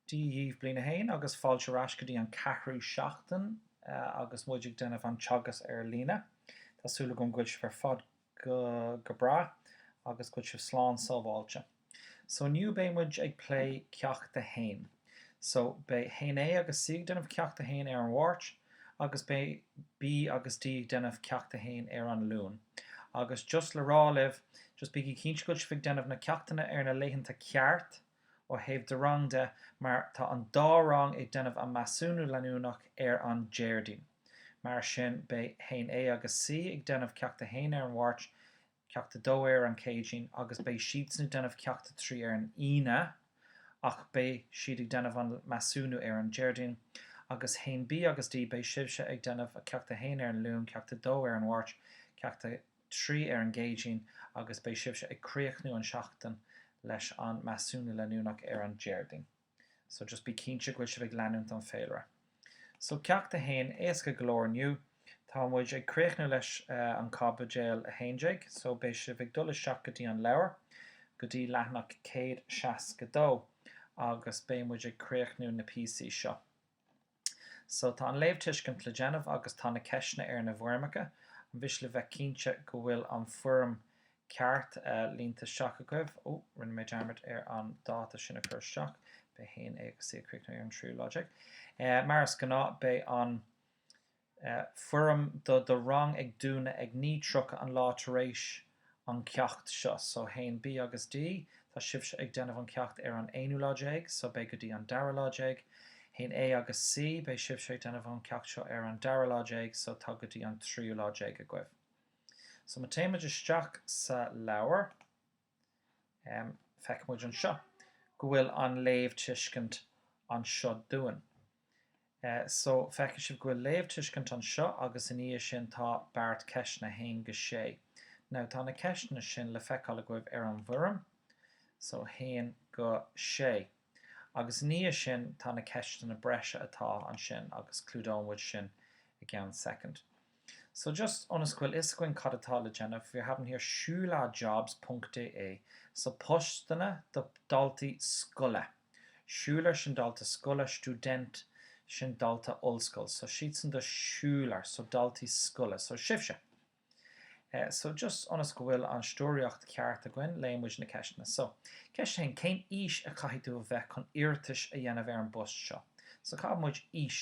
Dia dhíbh, Bliain 1, agus fáilte ar ais go dtí an ceathrú seachtain agus muid ag déanamh an teagasc ar líne. Tá súil agam go bhfuil sibh ar fad go breá agus go bhfuil sibh slán sábháilte. So inniu beidh muid ag plé Ceacht 1. So, beidh haon A agus C ag déanamh ceacht a haon ar an Mháirt agus beidh B agus D ag déanamh ceacht a haon ar an Luan. Agus just le rá libh, just bígí cinnte go bhfuil sibh ag déanamh na ceachtanna ar na laethanta ceart ó thaobh do rang de mar tá an dá rang ag déanamh an measúnú leanúnach ar an Déardaoin. Mar sin, beidh haon A agus C ag déanamh ceacht a haon ar an Mháirt, Ceacht 2 ar an Céadaoin agus beidh siadsan ag déanamh Ceacht 3 ar an Aoine ach beidh siad ag déanamh an measúnú ar an Déardaoin agus 1B agus D, beidh sibhse ag déanamh Ceacht 1 ar an Luan, Ceacht 2 ar an Mháirt, Ceacht 3 ar an gCéadaoin agus beidh sibhse ag críochnú an seachtain leis an measúnú leanúnach ar an Déardaoin. So just bí cinnte go bhfuil sibh ag leanúint an féilire. So Ceacht 1, éasca go leor inniu. Tá muid ag críochnú leis an Caibideal 11, so beidh sibh ag dul isteach go dtí an leabhar, go dtí leathanach 162 agus beidh muid ag críochnú na píosaí seo. So tá an léamhtuiscint le déanamh agus tá na ceisteanna ar na bhfoirmeacha, ar mhaithe le bheith cinnte go bhfuil an foirm ceart líonta isteach agaibh. Ó, rinne mé dearmad ar an dáta sin a chur isteach. Beidh haon A agus C ag críochnú ar an tríú lá déag. Mar is gnáth, beidh an. foirm do do rang ag dúnadh ag 9:30 an lá tar éis an ceacht seo. So haon B agus D, tá sibhse ag déanamh an ceacht ar an aonú lá déag, so beidh go dtí an dara lá déag. Haon A agus C, beidh sibhse ag déanamh an ceacht seo ar an dara lá déag, so tá go dtí an tríú lá déag agaibh. So má téann muid isteach sa leabhar. Feicfidh muid anseo go bhfuil an léamhtuiscint anseo dúinn. So feicfidh sibh go bhfuil léamhtuiscint anseo agus ina dhiaidh sin tá beart ceisteanna 1-6. Now tá na ceisteanna sin le feiceáil agaibh ar an bhfoirm. So 1-6. Agus ina dhiaidh sin tá na ceisteanna breise atá ansin agus clúdóidh muid sin i gceann soicind. So just ionas go bhfuil fhios againn cad atá le déanamh, wir haben hier Schülerjobs Punkt de. So postanna do daltaí scoile. Schüler sin dalta scoile, Student sin dalta ollscoil. So siadsan do Schüler, so daltaí scoile. So sibhse. Eh, so just ionas go bhfuil an stiúraíocht ceart againn, léigh muid na ceisteanna. So, ceist a haon, cén aois a chaithfidh tú a bheith chun iarratais a dhéanamh ar an bpost seo? So caithfidh muid aois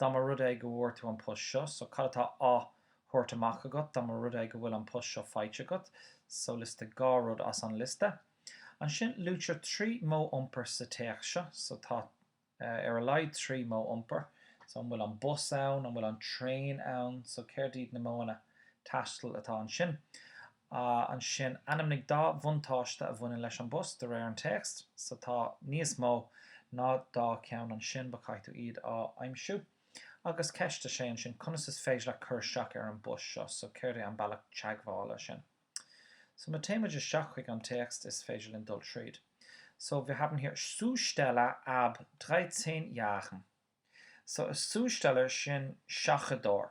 Dá mba rud é go bhfuair tú an post seo so cad atá á thabhairt amach agat? Dá mba rud é go bhfuil an post seo faighte agat so liostaigh dhá rud as an liosta. Ansin luaitear trí modh iompair sa téacs seo so tá ar a laghad trí modh iompair so an bhfuil an bus ann? An bhfuil an traein ann? So céard iad na modhanna taistil atá ansin? Ansin, ainmnigh dá bhuntáiste a bhaineann leis an bpost de réir an téacs so tá níos mó ná dá ceann ansin but caithfidh tú iad a aimsiú. Agus ceist a sé ansin, conas is féidir leat cur isteach ar an bpost seo so céard é an bealach teagmhála sin? So má téimid isteach chuig an téacs is féidir linn dul tríd. So wir haben hier Zusteller ab 13 Jahren. So a Zusteller sin seachadóir.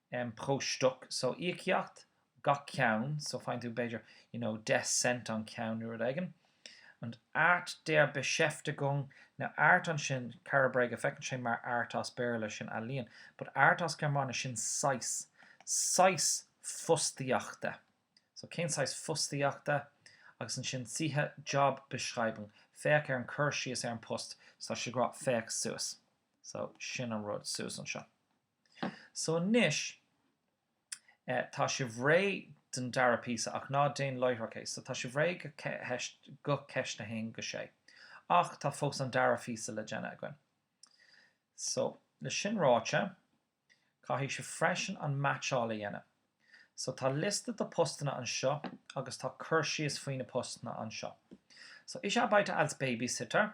em, pro Stück, so íocaíocht gach ceann, so faigheann tú b'fhéidir, you know, deich cent an ceann nó rud éigin. Und Art der Beschäftigung, now Art ansin, cara bréige, feiceann sé mar Art as Béarla, sin ealaíon, but Art as Gearmáinis, sin saghas, saghas fostaíochta. So cén saghas fostaíochta? Agus ansin siehe Jobbeschreibung, féach ar an cur síos ar an bpost, so tá siad ag rá féach suas. So sin an rud suas anseo. So anois eh tá sibh réidh don dara píosa ach ná déan láithreach é. So tá sibh réidh do ceist a haon go sé. Ach tá fós an dara phíosa le déanamh againn. So le sin ráite caithfidh sibh freisin an meaitseáil a dhéanamh. So tá liosta de postanna anseo agus tá cur síos faoi na postanna anseo. So ich arbeite als Babysitter